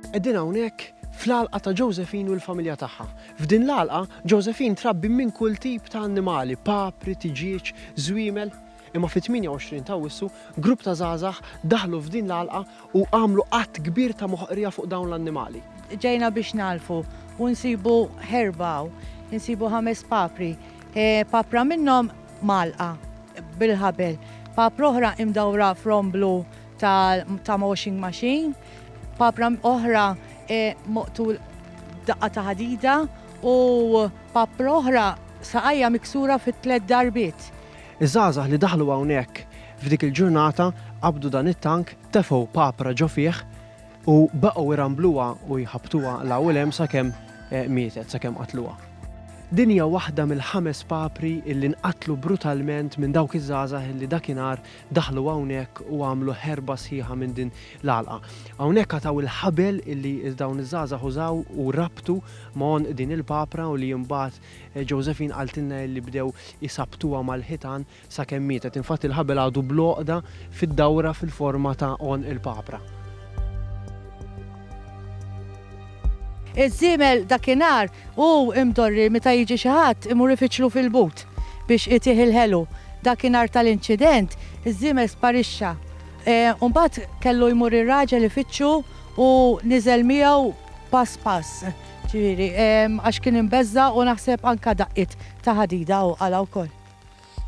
Qegħdin hawnhekk fl-għalqa ta' Josephine u l-familja tagħha. F'din l-għalqa, Josephine trabbi minn kull tip ta' annimali, papri, tiġieġ, żwiemel. Imma fit-28 ta' Awwissu, grupp ta' żgħażagħ daħlu f'din l-għalqa u għamlu att kbir ta' moħqrija fuq dawn l-annimali. Ġejna biex ngħallfu u nsibu ħerba hawn. Insibu ħames papri. Papra minnhom mgħallqa bil-ħabel. Papra oħra imdawra f'romb blu ta' washing machine, papra oħra moqtul daqqa ta' ħadida u papra oħra saqajja miksura fi tliet darbiet. Iż-żgħażagħ li daħlu hawnhekk f'dik il-ġurnata qabdu dan it-tank, tefgħu papra ġo fih u baqgħu jrambluha u jħabbtuha 'l hawn u 'l hemm sakemm mietet, sakemm qatluha. Din hija waħda mill-ħames papri li nqatlu brutalment minn dawk iż-żgħażagħ li dakinhar daħlu hawnhekk u għamlu ħerba sħiħa minn din l-għalqa. Hawnhekk qatgħu il-ħabel illi dawn iż-żgħażagħ użaw u rabtu ma' għonq din il-papra u li imbagħad Josephine qaltilna illi bdew isabbtuha mal-ħitan sakemm mietet. Infatti l-ħabel għadu bl-għoqda fid-dawra fil-forma ta' għonq il-papra. Iż-żiemel dakinhar hu mdorri meta jiġi xi ħadd imur ifiċċlu fil-but biex itih il-ħelu. Dakinhar tal-inċident, iż-żiemel sparixxa. U mbagħad kellu jmur ir-raġel ifittxu u niżel miegħu pass pass, ġifieri, għax kien imbeżża' u naħseb anke daqqiet ta' ħadida hu qalha wkoll.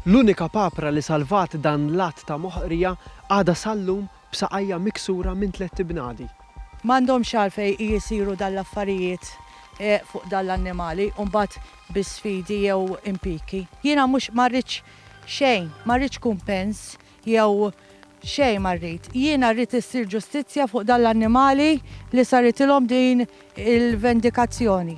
L-unika papra li salvat dan l-att ta' moħqrija għadha sal-lum B'saqajja miksura minn tlett ibnadi. M'għandhomx għalfejn jisiru dan l-affarijiet fuq dan l-annimali u mbagħad bi sfidi jew impiki. Jiena mhux ma rridx xejn, ma rridx kumpens jew xejn ma rrid. Jiena rrid issir ġustizzja fuq dan l-annimali li saritilhom din il-vendikazzjoni.